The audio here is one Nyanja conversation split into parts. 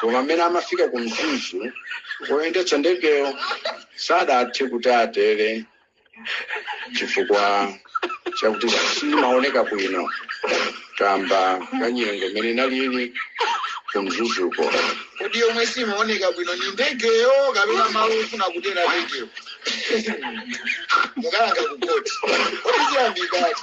koma mmene amafika ku mzuzu woyendetsa ndegeyo sadathe kuti atere chifukwa chakuti simaoneka bwino kamba ka nyengo mmene inalili ku mzuzuko kodi yomwe simaoneka bwino ni ndegeyo kapena malo ofuna kutera ndegeyo mukalankhula kuti kodi chiyambi kati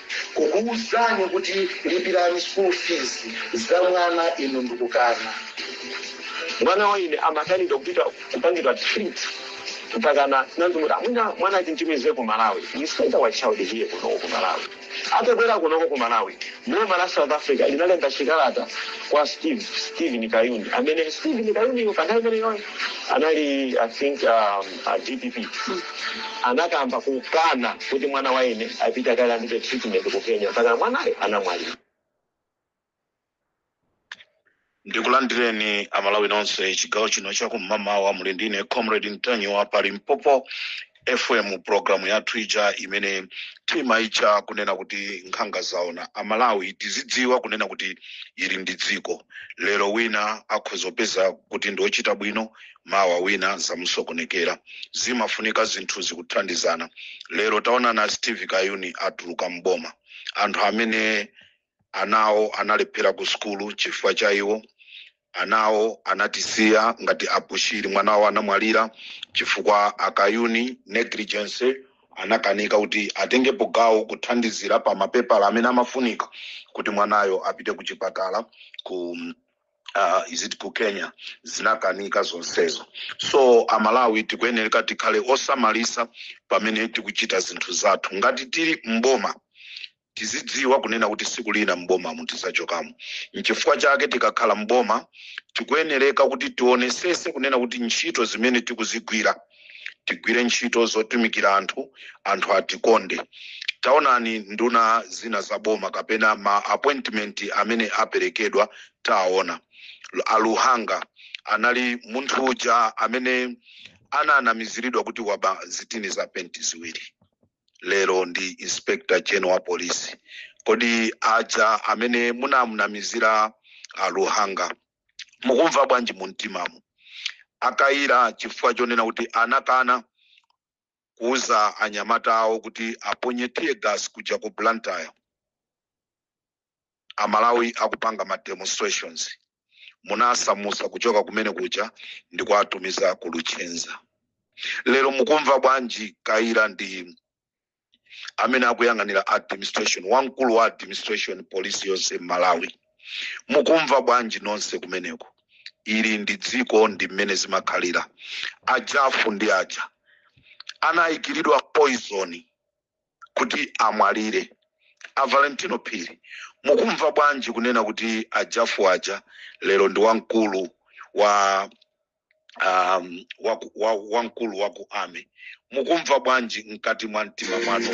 kukuuzani kuti lipirani school fees za mwana inu ndikukana mwana wa ine anakanidwa kupita kupangidwa treat mpakana nandimuti amwina mwana amutumize ku malawi we send our child here kunoko ku malawi atabwera kunoko ku malawi boma la south africa linalemba chikalata kwa stephen kayuni amene stephen kayuniyo panthawi imeneyoyo anali i think um, a dpp anakamba kukana kuti mwana wa ine apite akalandire treatment ku kenya mpaka mwanayo anamwalira ndikulandireni amalawi nonse chigawo chino chakum'mamawa muli ndi ine comrade ntanyiwa pa limpopo fm programu yathu ija imene timaitcha kunena kuti nkhanga zaona amalawi tizidziwa kunena kuti ili ndi dziko lero wina akhoza kupeza kuti ndi wochita bwino mawa wina zamusokonekera zimafunika zinthu zokuthandizana lero taona a steve kayuni atuluka mboma anthu amene anawo analephera ku sukulu chifukwa cha iwo anawo anatisiya ngati a bushiri mwana wawo anamwalira chifukwa cha kayuni negligence anakanika kuti atengepo gawo kuthandizira pa mapepala amene amafunika kuti mwanayo apite ku chipatala ku uh, is it ku kenya zinakanika zonsezo so amalawi tikuyenereka tikhale osamalisa pamene tikuchita zinthu zathu ngati tili mboma tizidziwa kunena kuti siku lina mbomamu tizachokamo nchifukwa chake tikakhala mboma tikuyenereka kuti tionesese kunena kuti ntchito zimene tikuzigwira tigwire ntchito zotumikira anthu anthu atikonde taonani nduna zina za boma kapena ma appointment amene aperekedwa taona aluhanga anali munthu uja amene ananamiziridwa kuti waba zitini za penti ziwiri lero ndi inspector general wa polisi kodi aja amene munamunamizira aluhanga mukumva bwanji mumtimamo akayira chifukwa chonena kuti anakana kuuza anyamata awo kuti aponye tear gas kuja ku blantyre amalawi akupanga ma demonstrations munawasamusa kuchoka kumene kuja ndi kuwatumiza ku luchenza lero mukumva bwanji kayira ndi amene akuyang'anira administration wamkulu wa administration polisi yonse m'malawi mukumva bwanji nonse kumeneko ili ndi dziko ndi mmene zimakhalira a Jafu ndi aja anayikiridwa poison kuti amwalire a valentino phiri mukumva bwanji kunena kuti a Jafu aja lero ndi wamkulu wa um, waku- wa- wamkulu wa ku army mukumva bwanji mkati mwa mtima mwanu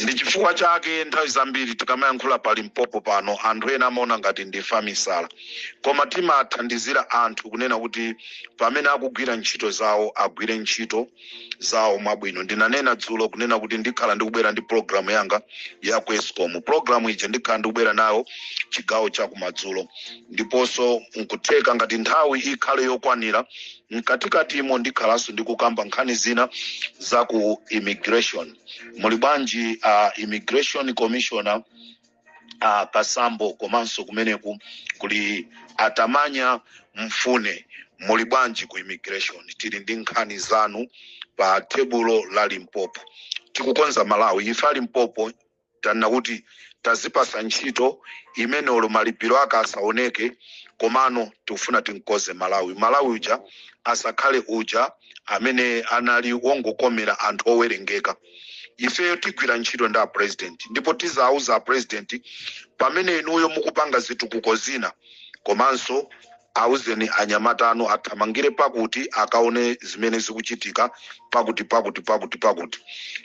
ndi chifukwa chake nthawi zambiri tikamayankhula pa limpopo pano anthu ena amaona ngati ndife amisala koma timathandizira anthu kunena kuti pamene akugwira ntchito zawo agwire ntchito zawo mwabwino ndinanena dzulo kunena kuti ndikhala ndikubwera ndi programu yanga ya ku escom programu ija ndikhala ndikubwera nayo chigawo cha kumadzulo ndiponso nkutheka ngati nthawi ikhale yokwanira mkatikatimo ndikhalanso ndikukamba nkhani zina za ku immigration muli bwanji uh, immigration commissioner uh, Kasambo komanso kumeneku kuli a Tamanya mfune muli bwanji ku immigration tili ndi nkhani zanu pa tebulo la limpopo tikukonza malawi ife a limpopo tanena kuti tazipasa ntchito imene olo malipiro ake asaoneke komano tikufuna timkonze malawi malawi uja asakhale uja amene anali wongokomera anthu owerengeka ifeyo tigwira ntchito ndi apresident ndipo tizauza apresident pamene inuyo mukupanga zitukuko zina komanso auzeni anyamata anu athamangire pakuti akaone zimene zikuchitika pakuti pakuti pakuti pakuti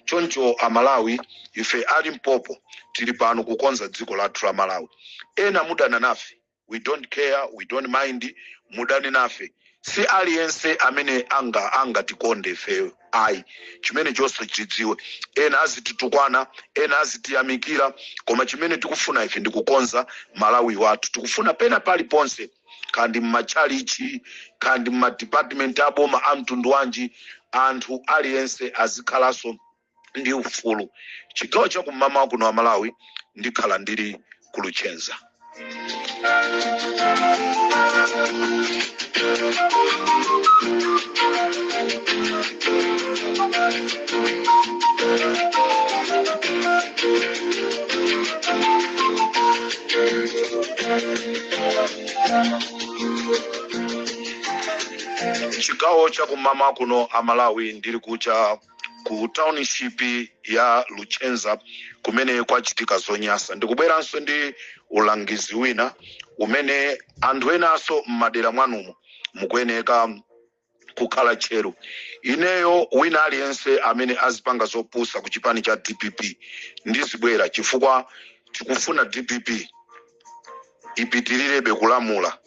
choncho amalawi ife a limpopo tili pano kukonza dziko lathu la malawi ena mudana nafe we don't care we don't mind mudane nafe si aliyense amene angatikonde ifeyo ayi chimene chonse chidziwe ena azititukwana ena azitiyamikira koma chimene tikufuna ife ndikukonza malawi wathu tikufuna pena paliponse kaya ndi mmatchalichi kaya ndi mmadipatimenti aboma a mtundu wanji anthu aliyense azikhalanso ndi ufulu chigawo cha kum'mawa kuno amalawi ndikhala ndili ku luchenza chigawo cha kum'mawa kuno amalawi ndili kucha ku township ya luchenza kumene kwachitika zonyasa ndikubweranso ndi ulangizi wina umene anthu enaso m'madera mwanumo mukuyeneka kukhala tcheru ineyo wina aliyense amene azipanga zopusa ku chipani cha dpp ndizibwera chifukwa tikufuna dpp ipitilirebe kulamula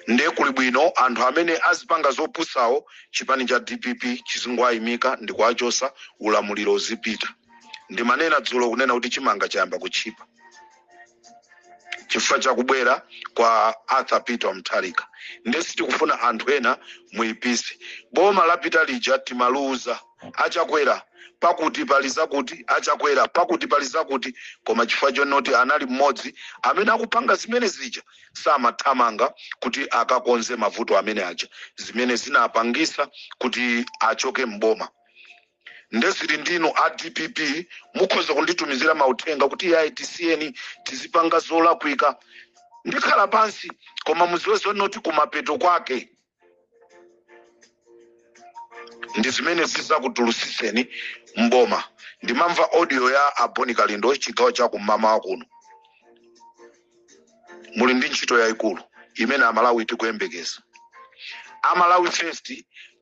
nde kuli bwino anthu amene azipanga zopusawo chipani cha dpp chizingwayimika ndikuachosa ulamuliro uzipita ndimanena dzulo kunena kuti chimanga chayamba kutchipa chifukwa chakubwera kwa arthur peter mtharika nde sitikufuna anthu ena muipise boma lapita lija timaluza achakwera pakuti pali zakuti achakwera pakuti pali zakuti koma chifukwa chonoti anali mmodzi amene akupanga zimene zija samathamanga kuti akakonze mavuto amene aja zimene zinapangisa kuti achoke mboma nde zili ndinu a dpp mukhoza kunditumizira mauthenga kuti iyayi tisiyeni tizipanga zolakwika ndikhala pansi koma muziwe zonoti kumapeto kwake ndi zimene zizakutulutsitseni mboma ndimamva audio ya a bon kalindo chigawo cha kum'mawa kuno muli ndi ntchito yayikulu imene amalawi tikuyembekeza a malawi first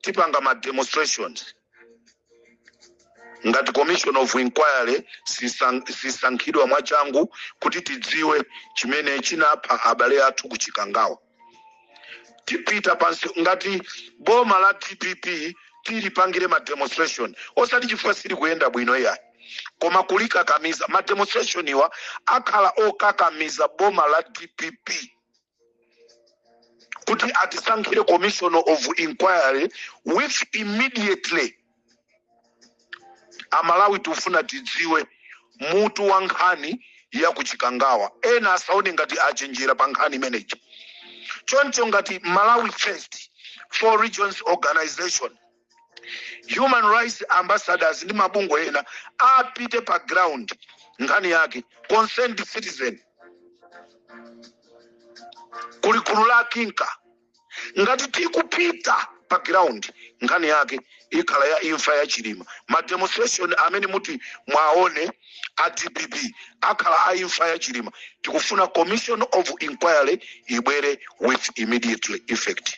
tipanga ma demonstrations ngati commission of inquiry sisankhidwa mwachangu kuti tidziwe chimene chinapha abale athu ku chikangawa tipita pansi ngati boma la dpp tilipangire ma demonstration osati chifukwa sili kuyenda bwino iyayi koma kulikakamiza ma demonstration-wa akhala okakamiza boma la dpp kuti atisankhire commission of inquiry with immediately amalawi tikufuna tidziwe mutu wa nkhani ya kuchikangawa ena asaone ngati achenjera pa nkhani imeneyi choncho ngati malawi first four regions organization human rights ambassadors ndi mabungwe ena apite pa ground nkhani yake concerned citizen kuli gulu la kinka ngati tikupita pa ground nkhani yake ikhala ya imfa ya chilima ma demonstration amene muti mwaone a dpp akhala a imfa ya chilima tikufuna commission of inquiry ibwere with immediately effect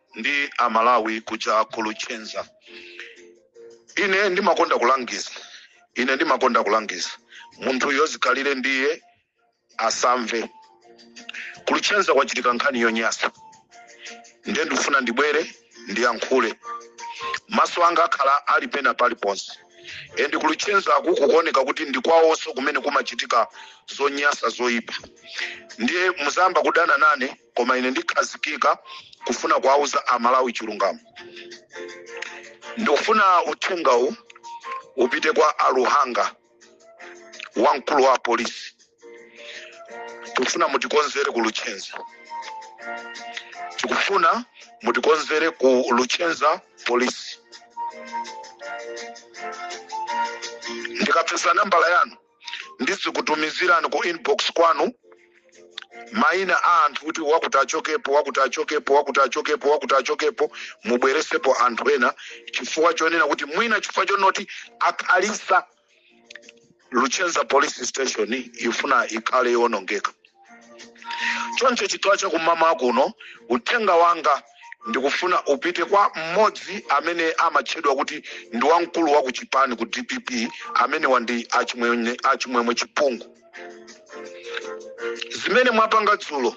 ndi amalawi kuja ku luchenza ine ndimakonda kulangiza ine ndimakonda kulangiza munthu yozikhalire ndiye asamve ku luchenza kwachitika nkhani yonyasa ndiye ndifuna ndibwere ndiyankhule maso anga akhala ali pena paliponse endi ku luchenza kukuoneka kuti ndi kwawonso kumene kumachitika zonyasa zoyipa ndiye muzayamba kudana nane koma ine ndikhazikika kufuna kuwauza amalawi chilungamo ndikufuna uthengawu upite kwa aluhanga wamkulu wa polisi tikufuna mutikonzere ku luchenza tikufuna mutikonzere ku luchenza polisi ndikapeza nambala yanu ndidzikutumizirani ku inbox kwanu maina a anthu kuti wakuti achokepo wakuti achokepo wakuti achokepo wakuti achokepo mubweresepo anthu ena chifukwa chonena kuti mwina chifukwa chonoti akhalisa luchenza police station ifuna ikhale yowonongeka choncho chigawo chakum'mawa kuno uthenga wanga ndikufuna upite kwa mmodzi amene amatchedwa kuti ndi wamkulu wa kuchipani ku dpp amenewa ndi achimwemwe chipungu zimene mwapanga dzulo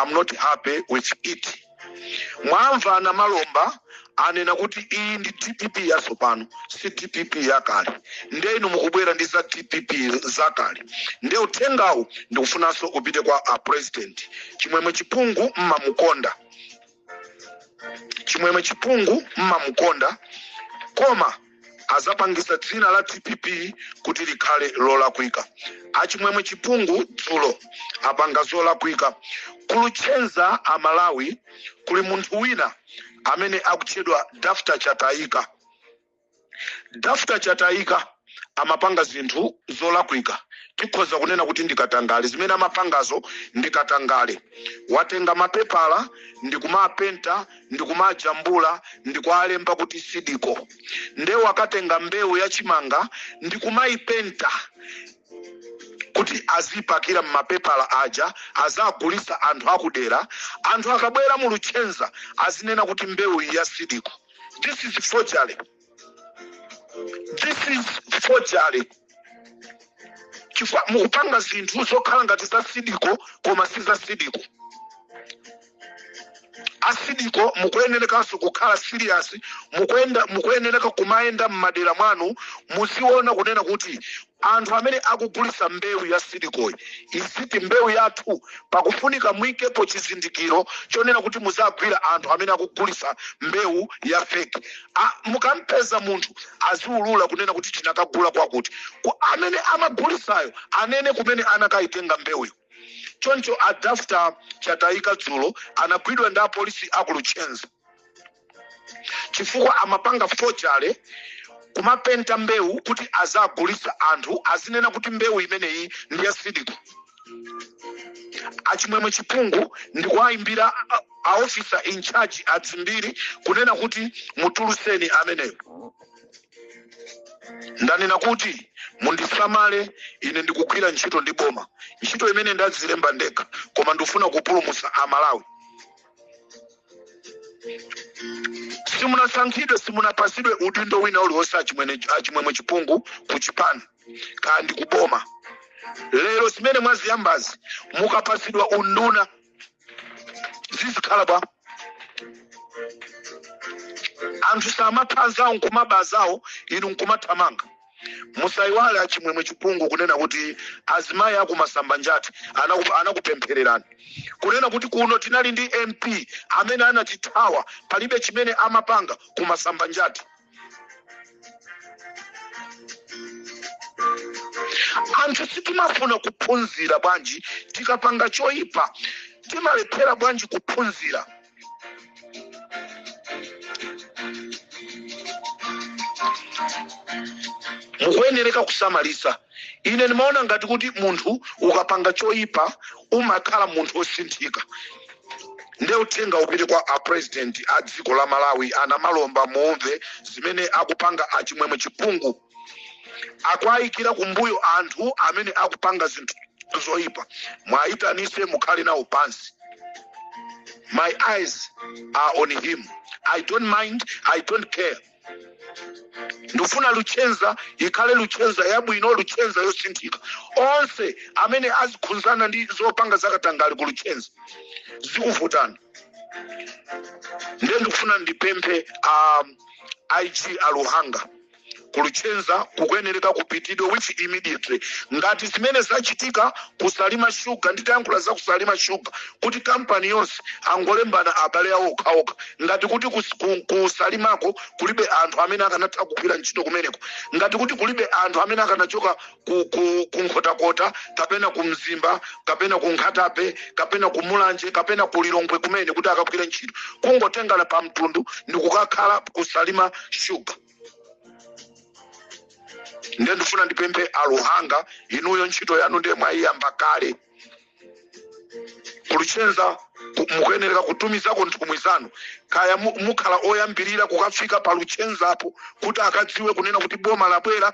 i'm not happy with it mwamva anamalomba anena kuti iyi ndi dpp yatsopano si dpp yakale nde inu mukubwera ndi za dpp zakale nde uthengawu ndikufunanso upite kwa a president chimwemwe chipungu mmamukonda chimwemwe chipungu mmamukonda koma azapangisa dzina la dpp kuti likhale lolakwika achimwemwe chipungu dzulo apanga zolakwika kuluchenza amalawi kuli munthu wina amene akutchedwa dafta chatayika dafta chatayika amapanga zinthu zolakwika tikhoza kunena kuti ndi katangale zimene amapangazo ndi katangale watenga mapepala ndikumapenta ndikumajambula ndikualemba kuti sidiko nde wakatenga mbewu ya chimanga ndikumaipenta kuti azipakira mmapepala aja azagulisa anthu akudera anthu akabwera mu luchenza azinena kuti mbewu ya sidiko this is forgery this is forgery chifukwa mukupanga zinthu zokhala ngati za sidiko koma si za sidiko asidiko mukuyenerekanso kukhala serious mukuyenda mukuyenereka kumayenda m'madera mwanu muziona kunena kuti Anthu amene akugulisa mbewu ya Seed Co-yi iziti mbewu yathu pakufunika muikepo chizindikiro chonena kuti muzagwira anthu amene akugulisa mbewu ya fake mukampeza munthu aziulula kunena kuti tinakagula kwakuti amene amagulisayo anene kumene anakaitenga mbewuyo choncho a Dafter Chataika dzulo anagwidwa ndi apolisi aku Luchenza. chifukwa amapanga forgery kumapenta mbewu kuti azagulitse anthu azinena kuti mbewu imeneyi ndi ya Seed Co achimwemwe chipungu ndikuwayimbira a officer in charge a Dzimbiri kunena kuti mutuluseni ameneyo ndanena kuti mundisamale ine ndikugwira ntchito ndi boma ntchito imene ndadzilemba ndekha koma ndifuna kupulumutsa amalawi simunasankhidwe simunapasidwe udindo wina uliwonse a Chimwemwe chipungu ku chipani kaya ndi kuboma lero zimene mwaziyambazi mukapasidwa unduna zizikhala bwa anthu samaphadzawo nkumabazawo inu nkumathamanga musaiwale achimwemwe chipungu kunena kuti azimayi aku Masambanjati anakupemphererani kunena kuti kuno tinali ndi mp amene anatithawa palibe chimene amapanga ku Masambanjati anthu sitimafuna kuphunzira bwanji tikapanga choyipa timalephera bwanji kuphunzira mukuyenereka kusamalitsa ine ndimaona ngati kuti munthu ukapanga choyipa umakhala munthu wosinthika nde uthenga upite kwa a president a dziko la malawi anamalomba muumve zimene akupanga achimwemwe chipungu akuayikira kumbuyo anthu amene akupanga zinthu zoyipa mwayitanise mukhale nawo pansi my eyes are on him i don't mind i don't care ndifuna luchenza ikhale luchenza yabwino luchenza yosinthika onse amene azikhunzana ndi zopanga zakatangale ku luchenza zikuvutana ndiye ndikufuna ndipemphe a IG a Luhanga ku Luchenza kukuyenereka kupitidwe with immediately ngati zimene zachitika ku Salima Sugar nditayankhula za ku Salima Sugar kuti kampani yonse angolembana abale awo okhaokha ngati kuti ku Salimako kulibe anthu amene akanatha kugwira ntchito kumeneko ngati kuti kulibe anthu amene akanachoka ku, ku, ku nkhotakota kapena ku mzimba kapena ku nkhata bay kapena ku mulanje kapena ku lilongwe kumene kuti akagwire ntchito kungotengana pa mtundu ndi kukakhala ku salima shuga ndiye ndifuna ndipemphe a luhanga inuyo ntchito yanu ndiye mwayiyamba kale ku luchenza mukuyenereka kutumizako nthumwi zanu kaya mu- mukhala oyambirira kukafika pa luchenzapo kuti akadziwe kunena kuti boma labwera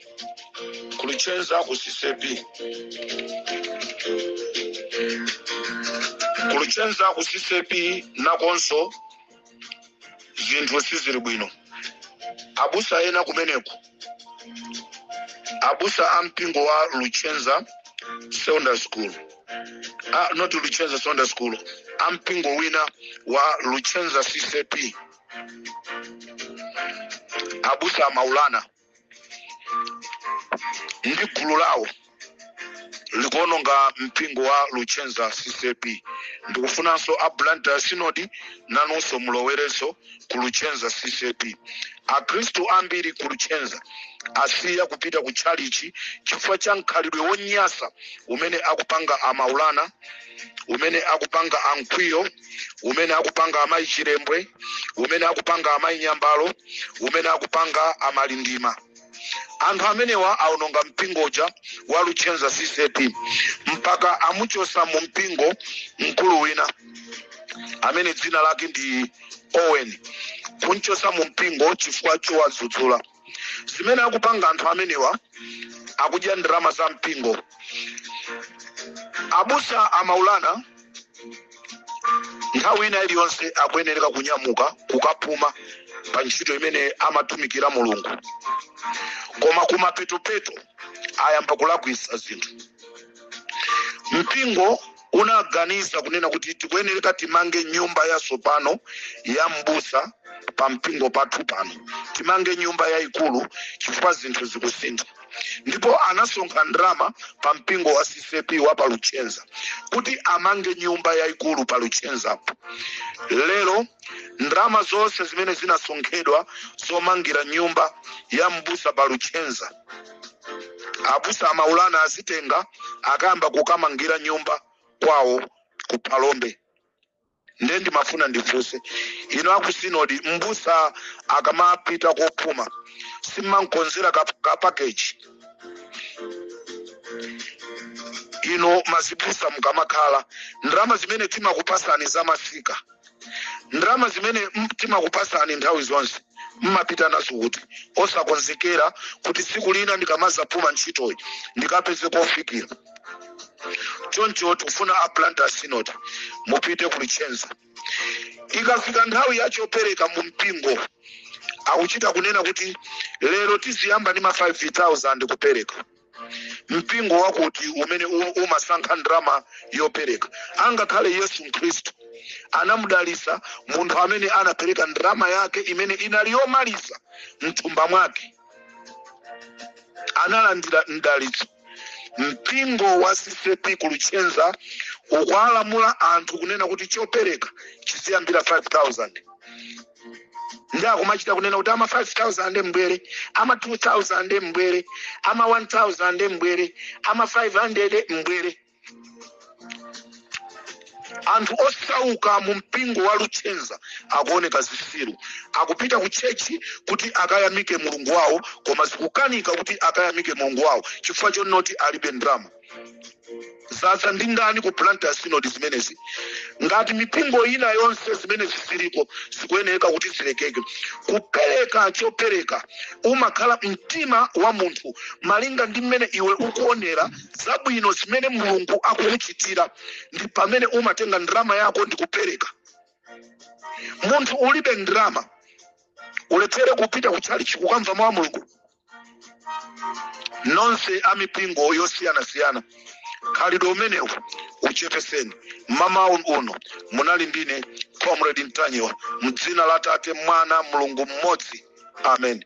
ku luchenza ku ccap ku luchenza ku ccap nakonso zinthu sizili bwino abusa ena kumeneko abusa a mpingo wa luchenza secondary school ah, not luchenza secondary school a mpingo wina wa luchenza ccap abusa a maulana ndi gulu lawo likuononga mpingo wa luchenza ccap ndikufunanso a blantyre synod nanunso mulowerereponso ku luchenza ccap akhristu ambiri ku luchenza asiya kupita ku tchalichi chifukwa cha mkhalidwe wonyasa umene akupanga a maulana umene akupanga a mkwiyo umene akupanga amayi chilembwe umene akupanga amayi nyambalo umene akupanga a malindima anthu amenewa aononga mpingo uja wa luchenza ccap mpaka amuchosa mu mpingo mkulu wina amene dzina lake ndi owen kumchosa mu mpingo chifukwa chowadzudzula zimene akupanga anthu amenewa akudya ndalama za mpingo abusa a maulana nthawi ina iliyonse akuyenereka kunyamuka kukapuma pa ntchito imene amatumikira mulungu koma kumapetopeto ayamba kulakwisa zinthu mpingo unaganiza kunena kuti tikuyenereka timange nyumba yatsopano ya m'busa pa mpingo pathu pano timange nyumba yayikulu chifukwa zinthu zikusintha ndipo anasonkha ndalama pa mpingo wa ccap wa pa luchenza kuti amange nyumba yayikulu pa luchenzapo lero ndalama zonse zimene zinasonkhedwa zomangira nyumba ya m'busa pa luchenza abusa a maulana azitenga akayamba kukamangira nyumba kwawo ku phalombe nde ndimafuna ndifunse inu a ku sinodi mbusa akamapita kopuma simmamkonzera ka package inu azibusa mukamakhala ndalama zimene timakupasani za masika ndalama zimene m- timakupasani nthawi zonse mmapita nazo kuti osakonzekera kuti tsiku lina ndikamazapuma ntchitoyi ndikapeze kofikira choncho tikufuna a Blantyre synod mupite ku Luchenza ikafika nthawi ya chopereka mu mpingo akuchita kunena kuti lero tiziyamba ndi ma 5000 kupereka mpingo wakuti umene u- umasankha ndalama yopereka angakhale yesu khristu anamudalitsa munthu amene anapereka ndalama yake imene inali yomaliza mthumba mwake analandira mdalitso mpingo wa CCAP kuluchenza ukuwalamula anthu kunena kuti chopereka chiziyambira 5000 ndi akumachita kunena kuti ama 5000 mbwere ama 2000 mbwere ama 1000 mbwere ama 500 mbwere anthu osauka mu mpingo wa luchenza akuoneka zisiru akupita ku tchetchi kuti akayamike mulungu wawo koma zikukanika kuti akayamike mulungu wawo chifukwa chonoti alibe ndalama zadza ndi ndani ku Blantyre synod zimenezi ngati mipingo ina yonse zimenezi ziliko zikuyeneka kuti zilekeke kupereka chopereka umakhala mtima wa munthu malinga ndi mmene iwe ukuonera zabwino zimene mulungu akukuchitira ndi pamene umatenga ndalama yako ndi kupereka munthu ulibe ndalama ulephere kupita ku tchalitchi kukamva mawu a mulungu nonse a mipingo yosiyanasiyana khalidwe umenewu uchepeseni mmawa uno munali ndine comrade Ntanyiwa mdzina la tate mwana mulungu mmodzi amen